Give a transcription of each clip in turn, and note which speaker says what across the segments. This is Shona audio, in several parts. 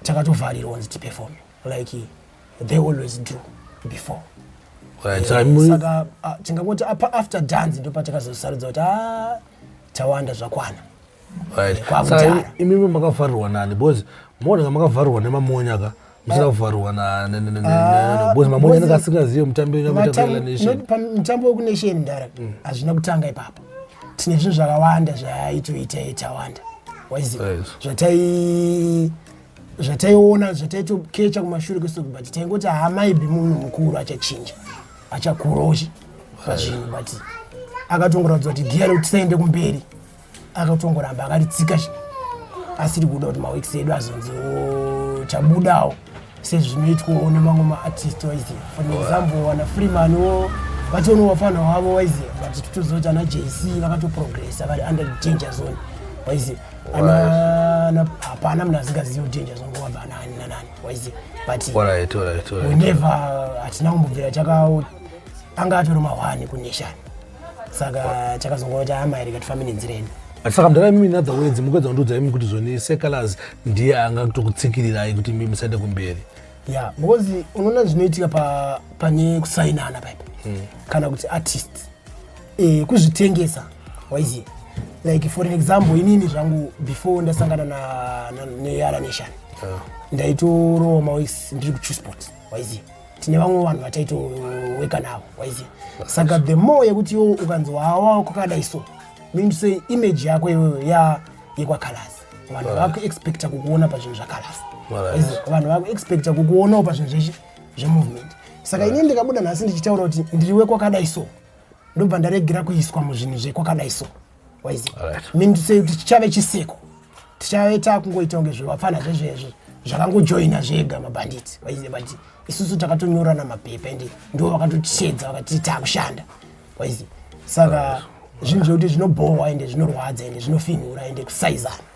Speaker 1: takatovharirwa kunzi tiperforme like they always do before eh,
Speaker 2: saka
Speaker 1: tingangoti apa after dance ndo patakazosarudza kuti a tawanda zvakwana
Speaker 2: imimi makavharirwa nani because moona makavharirwa nemamonya ka usina kuvharwa nabosimamonyaniasingazive mutambomutambo wekunation
Speaker 1: mdara mm. hazvina kutanga ipapa tine zvinhu zvakawanda zvaitoita itawanda zvatai zvataiona zvataitokecha kumashure kweso but taingoti haamaibi munhu mukuru achachinja achakuroshi pazvinhu but akatongoratidza kuti giya rekuti saende kumberi akatongoramba akaritsika asiri kuda kuti maweeks edu azonzi chabudawo sezvinoitwawo nemamwe maartist waize for example wana freeman wo vatono wafana wavo waize vati titozoita ana jc vakatoprogressa vari under danger zone waize hapana mnhu asingazivi kuti danger zone wabva anani nanani waize but we
Speaker 2: never
Speaker 1: hatina kumbobvira takawo anga atori mahwani kuneshani saka chakazongova chahama here kati famine nzireni saka mdara imimi in
Speaker 2: other words mukwedza kundiudza imi kuti zvoni secalas ndiye anga kutokutsikirirai kuti imi musaende kumberi ya because
Speaker 1: unoona zvinoitika pane kusainana paipa hmm. kana kuti artist eh, kuzvitengesa waiziva like for example inini zvangu before ndasangana neyara nation ah. ndaitorowa mawis ndiri kuchusport waiziva tine vamwe vanhu vataitoweka navo waiziva saka the more yekuti iwo ukanzi wawa kwakadai so mean say image yako iyoyo ya yekwakalasi vanhu right. vakuexpecta kukuona pazvinhu zvakalasi right. vanhu vakuexpecta kukuonawo pazvinhu zveshe zvemovement saka right. ini ndikabuda nhasi ndichitaura kuti ndiri wekwakadai so ndobva ndaregera kuiswa muzvinhu zvekwakadai so mindisei kuti chichave chiseko tichave takungoita kunge zvevapfana zvezvezve zvakangojoina zvega mabhanditi waiziva but isusu takatonyorana mapepa ende ndo vakatotichedza vakati takushanda waiziva saka zvinhu zvekuti zvinobhohwa ende zvinorwadza ende zvinofinhura ende kusaizana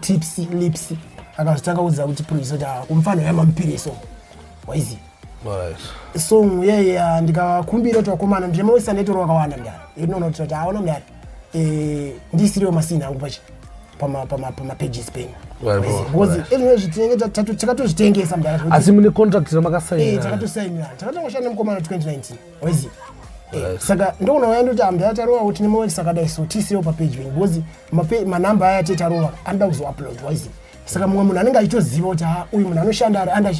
Speaker 1: tips lips akazotanga kuudza kuti puriso kuti ah, kumfana uya mamupiriso waizi song yeye ah, ndikakumbira kuti vakomana ndinoisa netoro wakawanda mdara inoona kuti kuti aona mdara eh, ndisiriwo masini angu pachi pamapages penyu because ezvino zvitinenge takatozvitengesa mdara asi mune contract
Speaker 2: ramakasaina eh, takatosainira takatongoshanda
Speaker 1: nemukomana 2019 waizi eh, saka ndoona waya ndoti ambe atarova kuti nemawekisi akadai so tisirewo papeji venyu because manamba aya tetarova anoda kuzoupload waizi saka mumwe munhu anenge achitoziva kuti ha uyu munhu anoshanda ari under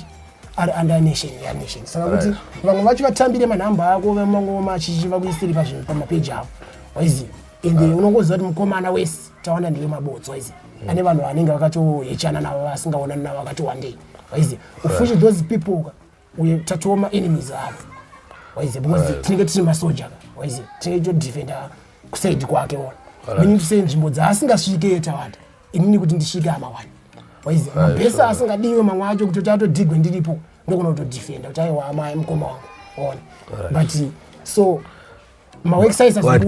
Speaker 1: ari under nation ya nation saka kuti vamwe vacho vatambire manhamba ako vamangoma achichiva kuisiri pazvinhu pamapeji avo waizi ende ah. unongoziva kuti mukomana wese tawanda ndiwe mabotsi waizi hmm. ane vanhu vanenge vakatohechana navo vasingaonani navo vakatowandei waizi ufushi those people ka uye tatiwo maenemies avo waize because tinenge tiri masoja waize tinenge todefenda kusaidi kwake ona meaning to say nzvimbo dzaasingasvike yetawanda inini kuti ndisvike amawani waize mabhesa asingadiwe mamwe acho kutoti atodigwe ndiripo ndokona kutodefenda kuti aiwa amai mukoma wangu ona but so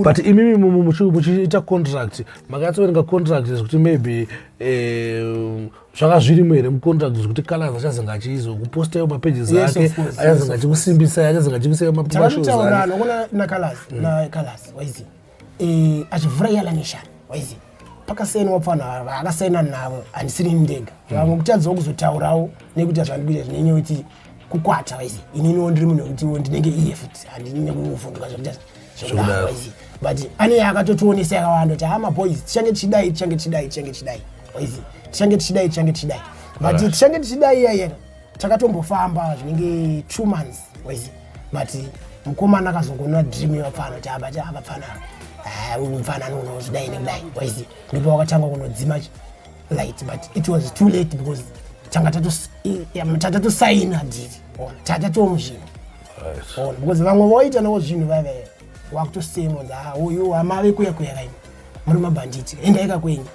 Speaker 1: but imimi
Speaker 2: muchiita contract makatsoverenga contract zvekuti maybe eh, zvanga zvirimo here mucontract zvekuti kalas achazenge achizokupostayo mapages ake achazenge achikusimbisai achazenge achikusayo mapashozanakalasi
Speaker 1: eh, achivhura iyala neshana waizi pakasaina wapfana havaakasaina navo handisiri ndega mm. vamwe kutadzawo kuzotaurawo nekuti hazvandikuita zvinenyewe tii kukwata waisi ininiwo ndiri munhu wekutiwo ndinenge iye futi handini nekuvhunduka zvekuita zvekudaro waisi but ane yakatotionesa yakawanda kuti hama boys tichange tichidai tichange tichidai tichange tichidai waisi tichange tichidai tichange tichidai but tichange tichidai iyayena takatombofamba zvinenge two months waisi but mukomana akazongonwa dream yevapfana kuti abati avapfana ah, ah, uyu mfanani unozidai nekudai waisi ndipo wakatanga kunodzima light but it was too late because tanga tatatosaina dhiri ona tatatomu zvinhu ona because vamwe voita navo zvinhu vave wakutosemwa nda ah, uyu hamave kuya kuya kaini muri mabhanditi endaika kwenyu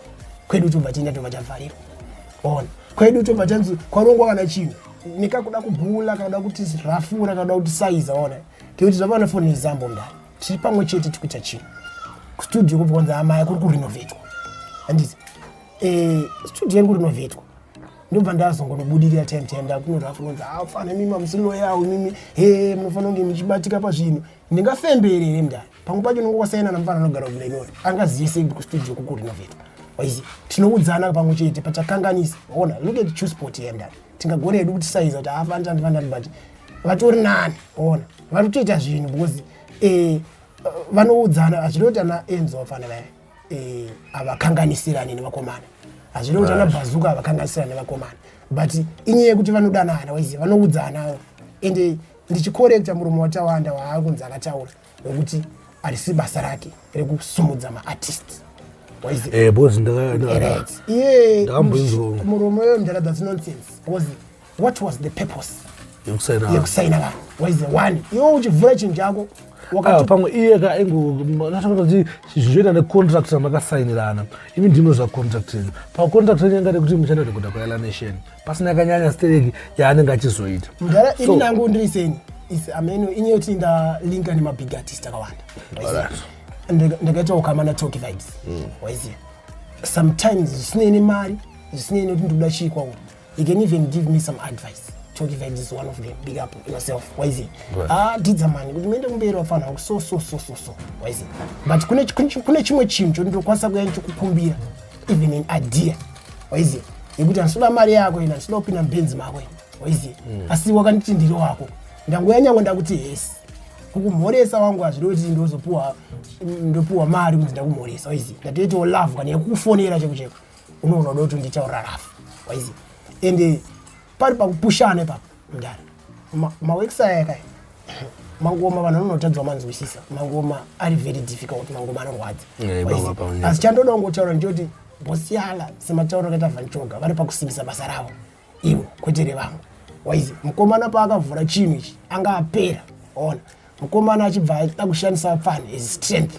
Speaker 1: kwedu tobva tienda tobva tavharirwa ona kwedu tobva tanzi kwarongwa kana chinhu nekakuda kubhula kana kuda kuti rafura kana kuda kuti saiza ona tikuti zvapana foni nezambo mdani tiri pamwe chete tiri kuita chinhu kustudio kupi kwanzi amaya kuri kurinovetwa handiti eh, studio iri kurinovetwa ndobva ndazongonobudirira time time ndakunonzwa kunonzi afana ah, mimi amusiloyawo mimi he munofanira kunge muchibatika pazvinhu ndingafembere here mndani pamwe pacho unonge kwasainana mufana anogara kulenori angazive sei kuti kustudio kukurinovetwa waizi tinoudzana pamwe chete pachakanganisa ona look at chusport here mndani tingagona hedu kuti saiza kuti haafani tandifanira but vatori nani ona vari kutoita zvinhu because eh, vanoudzana hazvida kuti ana enzo vafana vaya eh, havakanganisirani nevakomana hazvida kuti ana bhazuka havakanganisirani nevakomana but inyaya yekuti vanodanana waiziva vanoudzana ende ndichikorekta murume watawanda waakunzi akataura nekuti arisi basa rake rekusumudza maartist eh, muromo yo mdara thats nonsense was what was the purpose yekusaina vanhu waize one iwo uchivhura chinhu chako Ah, pamwe iye
Speaker 2: ka ingoti zvizoita necontract ramakasainirana imi ndimwe zvacontract renyu pacontract renyu yanga rekuti muchanoita kuda kwayala nation pasina kanyanya stereki yaanenge achizoita mudhara ini nangu
Speaker 1: ndiri seni is ameno ini yoti ndalinga nemabig artist akawanda ndakaita ukama natoki vibes mm. waiziva sometimes zvisinei nemari zvisinei nekuti ndikuda chii kwauri you can even give me some advice toki vibes is one of them big up yourself waiziva ah didza mani kuti muende kumberi wafanira kuti so so so so so waiziva but kune chimwe chinhu chondinokwanisa kuya ndichikukumbira even an idea waizi yekuti handisida mari yako ina handisida kupinda mubenzi mako ina waizi mm. asi wakanditi ndiri wako ndanguya nyangwe ndakuti hesi kukumhoresa wangu hazviri kuti ndozopuwa ndopuwa mari kunzi ndakumhoresa waizi ndatoitawo love kana yekukufonera cheko cheko unoona uda kuti nditaurira rafu waizi ende pari pakupushana ipapo mdara maworks aya kai mangoma vanhu vanotadzwa manzwisisa mangoma ari very difficult mangoma anorwadza eh, asi chandoda kungotaura ndichoti bosi yala sematauro akaita vanchoga vari pakusimbisa basa ravo ivo kwete revamwe waizi mukomana paakavhura chinhu ichi anga apera ona mukomana achibva aita kushandisa fan as strength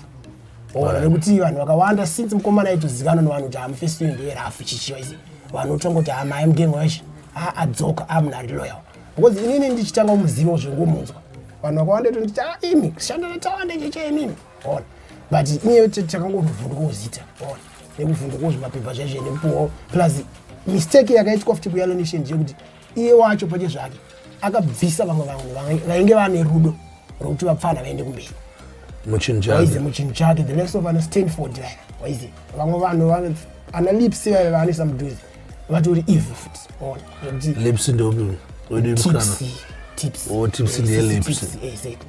Speaker 1: ona nekuti vanhu vakawanda since mukomana aitozikanwa nevanhu kuti amufesi uyu ndiye rafu chichiwa izi vanhu otongoti amai mugengo weshe aadzoka amunhu ari loyal because inini ndichitanga kumuziva zvengomunzwa vanhu vakawanda tonditi a imi kushanda natawanda cheche inini ona but inyeyo takangovhunduka kuzita ona nekuvhunduka kuzvimapepa zvaizve nekupuwawo plus mistake yakaitwa futi kuyalo nation ndeyekuti iye wacho pache zvake akabvisa vamwe vanhu vainge vane rudo rwekuti vapfana vaende kumberi muchinhuaize muchinhu chake the likes of ana stanford vaya waize vamwe vanhu ana lips vaya vaanoisa mudhuze vatori evil futi ona lips ndopi
Speaker 2: tipsy
Speaker 1: tipsy tipsy ndeyelips
Speaker 2: exactly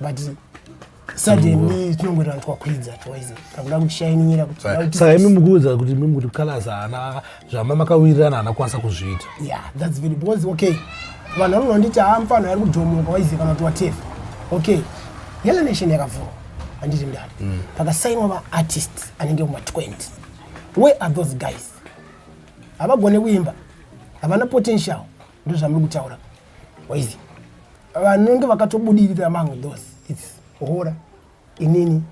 Speaker 1: but suddenly tinongoita vanhu twakwidza twice takuda kushainyira kutisaka imi mukuudza
Speaker 2: kuti mimi kuti colors haana zvama makawirirana haana kwanisa kuzviita yeah that's very because
Speaker 1: okay vanhu vanonga vanditi haa mfana ari kudhomoka waiziva kana kuti watefa okay yellow nation yakavhurwa handiti ndani mm. pakasainwa vaartist anenge kuma 20 where are those guys havagone kuimba havana potential ndozvamiri kutaura waizi vanenge vakatobudirira among those its hora inini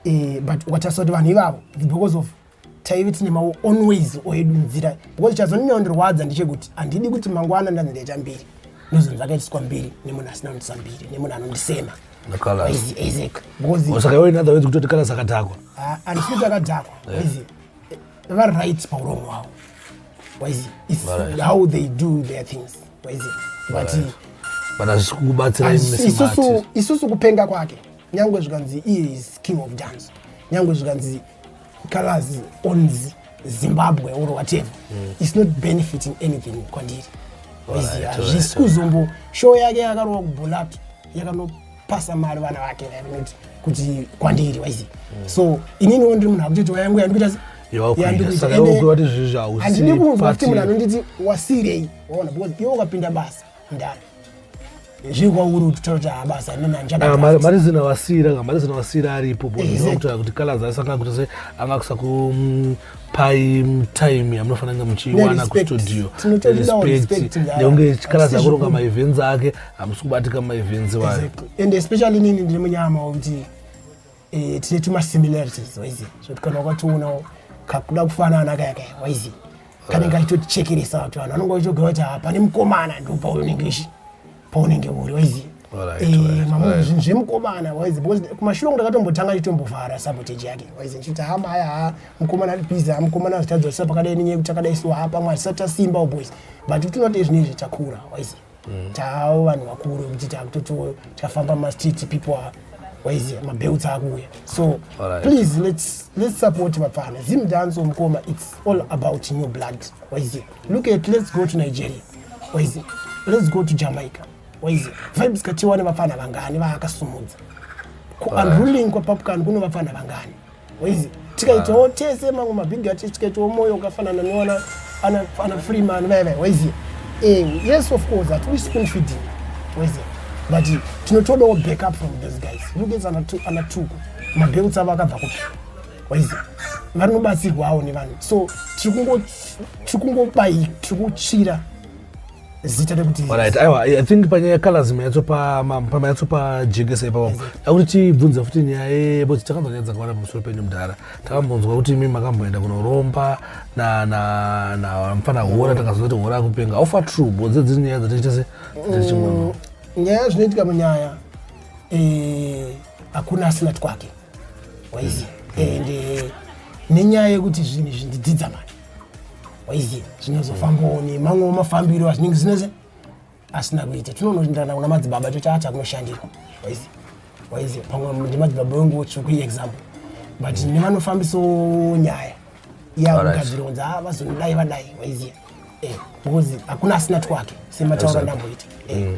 Speaker 1: eh, but ukatasa kuti vanhu ivavo its because of taive tine mawo on ways oedu nzira because chazononyandorwadza ndechekuti handidi kuti mangwana ndanzi ndaita mbiri ndozonzi akaitiswa mbiri nemunhu asina kundisa mbiri nemunhu anondisema isaac because
Speaker 2: usakaoinathaways kutoti kalas akadhakwa ah, handisikuti akadhakwa
Speaker 1: vari right pauromo hwavo waizi is right. how they do their things waizi vati right. but hazvisi
Speaker 2: kukubatsira isusu,
Speaker 1: isusu kupenga kwake nyange zvikanzi iye is king of dance nyange zvikanzi colors ons zimbabwe or whatever mm. is not benefiting anything kwandiri waizi hazvisi kuzombo show yake yakarova kubholatu yakano pasa mari vana vake vainoti kuti kwandiri waizi mm. so inini wo ndiri munhu akutoti wayangu yandikuita handidi kunzwa kuti munhu anonditi wasirei waona because iwe ukapinda basa ndani zviri kwauri kuti taura kuti habasa mari zina wasira
Speaker 2: mari zina wasira aripo bokutoa kuti kalazi aisanga kuti se anga kusaku paitime yamunofanira kunge muchiiwana kustudio respect nekunge chikala zakuronga maevents ake hamusi kubatika maevents wayo and especially inini
Speaker 1: ndiri munyama wekuti eh, tine tumasimilarities waizi zvekuti kana wakatoonawo kakuda kufanana kaya kaya waizi kanenge achitotichekeresa kuti vanhu vanonge vachitogara kuti hapane mukomana ndopa unenge ishi paunenge uri waiziva eh, zvinhu zvemukomana waizi because kumashure kungu ndakatombotanga chitombovhara sabotage yake waizi ndichiti ha maya ha mukomana ari busy ha mukomana azitadzosisa pakadai nenyaya yekuti akadai so ha pamwe azisati tasimba boys but kuti not ezvine izvi takura waizi mm. taavo vanhu vakuru kuti takutoti tafamba mastreet people are waiziva mabelts akuuya so right. please let's, let's support vapfana zim dance omukoma its all about new blood waiziva look at let's go to nigeria waizi let's go to jamaica waizi vibes katiwane vapfana vangani vaakasumudza kuunruling kwapapukani kuno vapfana vangani waizi tikaitawo tese mamwe mabhigi ati tikaitawo moyo ukafanana newana ana freeman vaya vaya waizi eh, yes of course hatidi spoon feeding waizi but tinotodawo back up from those guys look at ana tuku mabheuts avo akabva kupi waiza vanobatsirwawo nevanhu so tiri kungobai tiri kutsvira zita rekuti right aiwa i think
Speaker 2: panyaya yecolors mayatsopa jekesa ipapo akuti tibvunza futi nyaya yebo takanzwa nyaya dzakawanda pamusoro penyu mudhara takambonzwa kuti imi makamboenda kunoromba namfana hora takaziva kuti hora akupenga ofa true bodze dziri nyaya dzatiita se mm, nyaya zvinoitika
Speaker 1: munyaya eh, hakuna asina twake waiziva and eh, nenyaya yekuti zvinhu izvi ndidzidza mani waiziva zvinozofambawo nemamwewo mafambiro azvinenge zvinese asina kuita tinonoenderana kuna madzibaba tochaacha kunoshandira waiziva waiziva pamwe ndimadzibaba wenguwo tsvuku iexample but mm. nevanofambisawo nyaya yakugadzironza ah, vazonodai vadai waiziva eh, because hakuna asina twake semataura ndamboita eh. mm.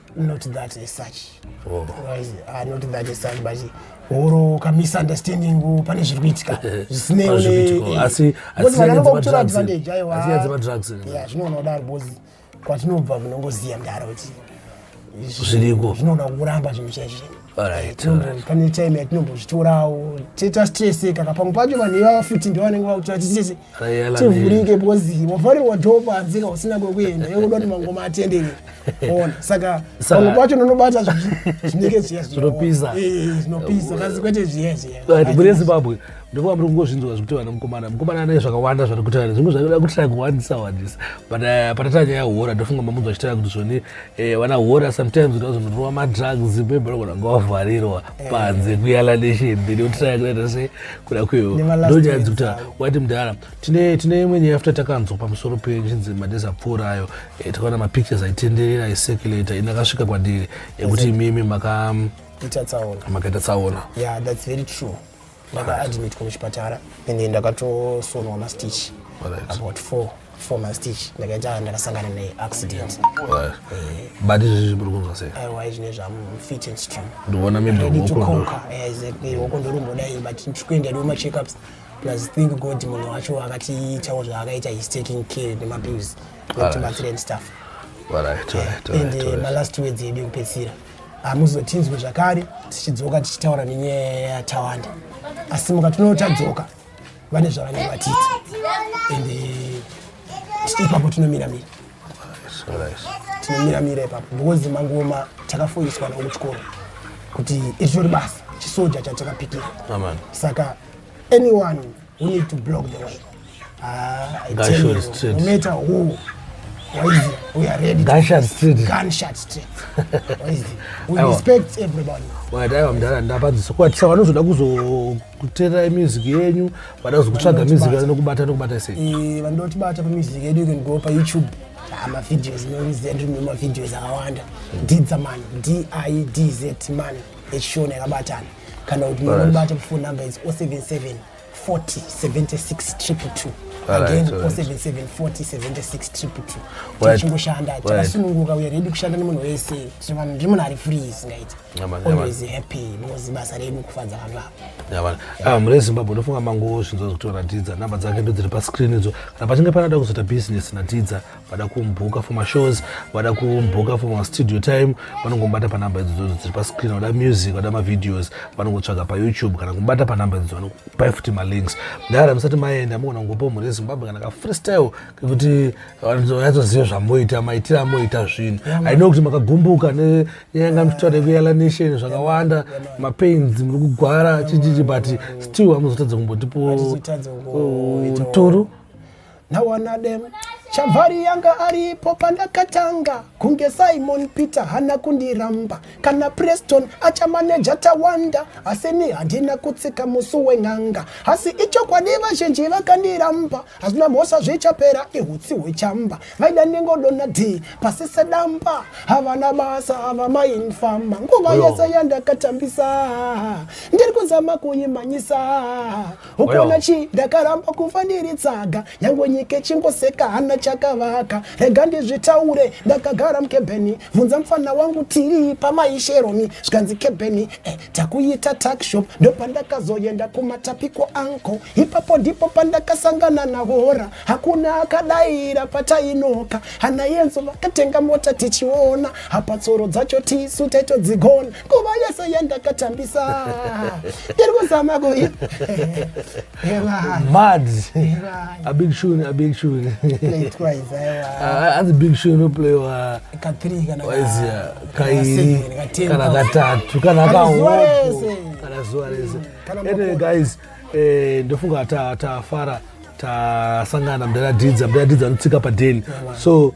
Speaker 1: not that as such oh. Otherwise, uh, not that as such but or kamisunderstanding pane zviri kuitika zvisineivanongokutora advantage aiwa
Speaker 2: zvinoona kudaro bcause
Speaker 1: kwatinobva kunongoziya mdara kuti zviriko
Speaker 2: zvinoona kuramba
Speaker 1: zvinhu chaizvo pane time yatinombozvitorawo tiita stresseka ka pamwe pacho vanhu ivava futi ndivo vanenge vakutora titese tivhurike bcozi wavharirwa dho panze ka usina kwekuenda yokuda kuti mangoma atenderere ona saka pamwe pacho nonobata zvinenge zviya zvinopisa
Speaker 2: eh,
Speaker 1: kasi kwete zviya zviyamune zimbabwe
Speaker 2: ndikuva muri kungozvinzwa zvekuti vana mukomana mukomana ane zvakawanda zvati kutaura zvimwe zvakuda kutira kuwandisa wandisa but eh, patatanya yahora ndofunga mamunzwa chitaura kuti zvoni Eh, vana hora sometimes ndozonotova madrugs bhebhera kana ngavavharirwa eh. panze kuyala neshemberi otiraya kunaita se kuda kwewo ndonyanzi kuti wati mudhara tine tine imwe nyaya futa takanzwa pamusoro pechinzi madhezi apfuura ayo eh, takaona mapictures aitenderera aiseculator ina akasvika kwandiri ekuti imimi makaita tsaona yeah that's very
Speaker 1: true ndakaadmitwa kuchipatara and ndakatosonwa mastitch about four four mastitch ndakaita ndakasangana neaccident eh.
Speaker 2: but izvezvi muri kunzwa sei aiwa izvi nezvam
Speaker 1: fit and strong ndoona
Speaker 2: mibhokonka
Speaker 1: hoko ndorumbodaii but ndikuenda ndiwo macheckups plus thank god munhu wacho akatiitawo zvaakaita his taking care nemapills nekuti batsira and stuff and eh, malast words edu ekupedzisira hamuzotinzwe zvakare tichidzoka tichitaura nenyaya yatawanda asi mukatono tadzoka vane zvavanenge vatiti and eh, ipapo tinomiramira tinomiramira ipapo because mangoma takafoiswa navo kuchikoro kuti iritori basa chisoja chatakapikira saka anyone We need to block the way. Ah, I tell you, no matter who, we are ready. Gunshot street. Gunshot
Speaker 2: street.
Speaker 1: we respect everybody. wadaiwa mdara
Speaker 2: ndapadzisa kuatisa vanozoda kuzokuteerera music yenyu vada kuzokutsvaga music vanokubata nokubata sei eh, vanotibata pamusic
Speaker 1: yedu you can go payoutube ah, mavideos noizendrimemavideos akawanda didzaman d i d z man yechishona yakabatana kana kuti munobata phone number is 077 40 76 triple two again 077 40 76 triple two tichingoshanda takasununguka uye ready kushanda nemunhu wese vanhu ndiri munhu ari free isingaiti always happy because basa redu kufadza vanhu ava ah, mune zimbabwe ndofunga
Speaker 2: mangowo zvinzwa zvikutoratidza namba dzake ndodziri pascreen idzo kana pachinge panada kuzoita business natidza vada kumbuka for mashows vada kumbuka for mastudio time vanongobata panhamba idzodzo dziri pascreen vada music vada mavideos vanongotsvaga payoutube kana kubata panhamba idzodzo vanokupai futi malinks ndara musati maenda mogona kungopa mhuri yezimbabwe kana kafreestyle kekuti vanyatsoziva zvamoita maitire amoita zvinhu aino kuti makagumbuka neyanga muchitaura yekuyala nation zvakawanda mapains muri kugwara chichichi but still amuzotadza kumbotipo turu
Speaker 1: nawana dem chavari yanga aripo pandakatanga kunge simon peter hana kundiramba kana preston achamaneja tawanda asini handina kutsika musi wen'anga asi ichokwadi vazhinji vakandiramba hazvina mhosva zvichapera ihutsi hwechamba vaida ndingodona d pasi sedamba havana basa hava mainfama nguva yese yandakatambisa ndiri kuzama kuimanyisa ukaona chi ndakaramba kufa ndiri tsaga nyangwe nyika ichingoseka hana chakavaka rega ndizvitaure ndakagara mukebheni vhunza mfana wangu tiri pamaisheromi zvikanzi kebheni eh, takuita takshop ndopandakazoyenda kumatapiko anko ipapo ndipo pandakasangana nahora hakuna akadaira patainoka hana yenzo vakatenga mota tichiona hapa tsoro dzacho tisu taitodzigona nguva yese yandakatambisa ndiri kuzama kuya
Speaker 2: mad a big tune a big tune hanzi big tune inoplayiwa waizia
Speaker 1: kairi
Speaker 2: kana katatu kana kahopo kana zuva rese anyway guys eh, ndofunga tafara tasangana mdara didza mdara didza anotsika padeni so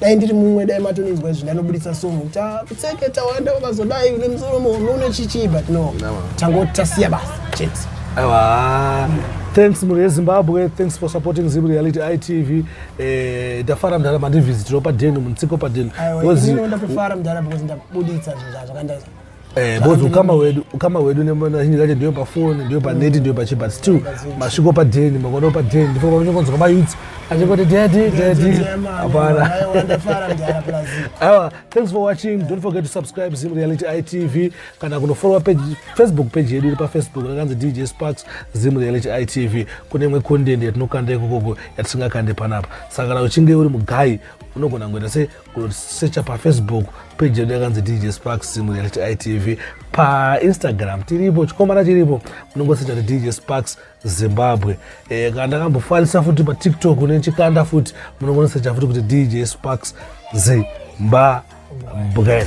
Speaker 1: dai ndiri mumwe dai matondinzwa izvi ndanobuditsa somo kuti ah, kutseke tawanda ukazodai une musoro muhombe une chichii but no tangoti tasiya basa chete aiwa
Speaker 2: thanks mhuri yezimbabwe thanks for supporting zim reality itv eh, ndafara mdhara mandivhizitiro padhenu muntsiko padhenu Aiwa, Because- ini ndinofara
Speaker 1: mdhara because ndabuditsa zvinhu zvakandai Eh, because ukama
Speaker 2: wedu ukama wedu neazhinji kacho ndiyo pafoni ndiyo paneti ndiyo pachi but still masviko padheni makodo padheni ndipo pamachingonzwa mayouth achingoti daddy daddy hapana awa thanks for watching don't forget to subscribe zim reality itv kana kunofollowa page facebook page yedu iri pafacebook rakanzi dj sparks zim reality itv kune imwe content yatinokanda ikokoko yatisingakande panapa saka kana uchinge uri mugai unogona ngoita se secha pafacebook peji yedu yakanzi dj sparks mureality itv painstagram tiripo chikomana chiripo munongosecha dj sparks zimbabwe e, kana ndakambofarisa futi patiktok nechikanda futi munongonosecha futi kuti dj sparks zimbabwe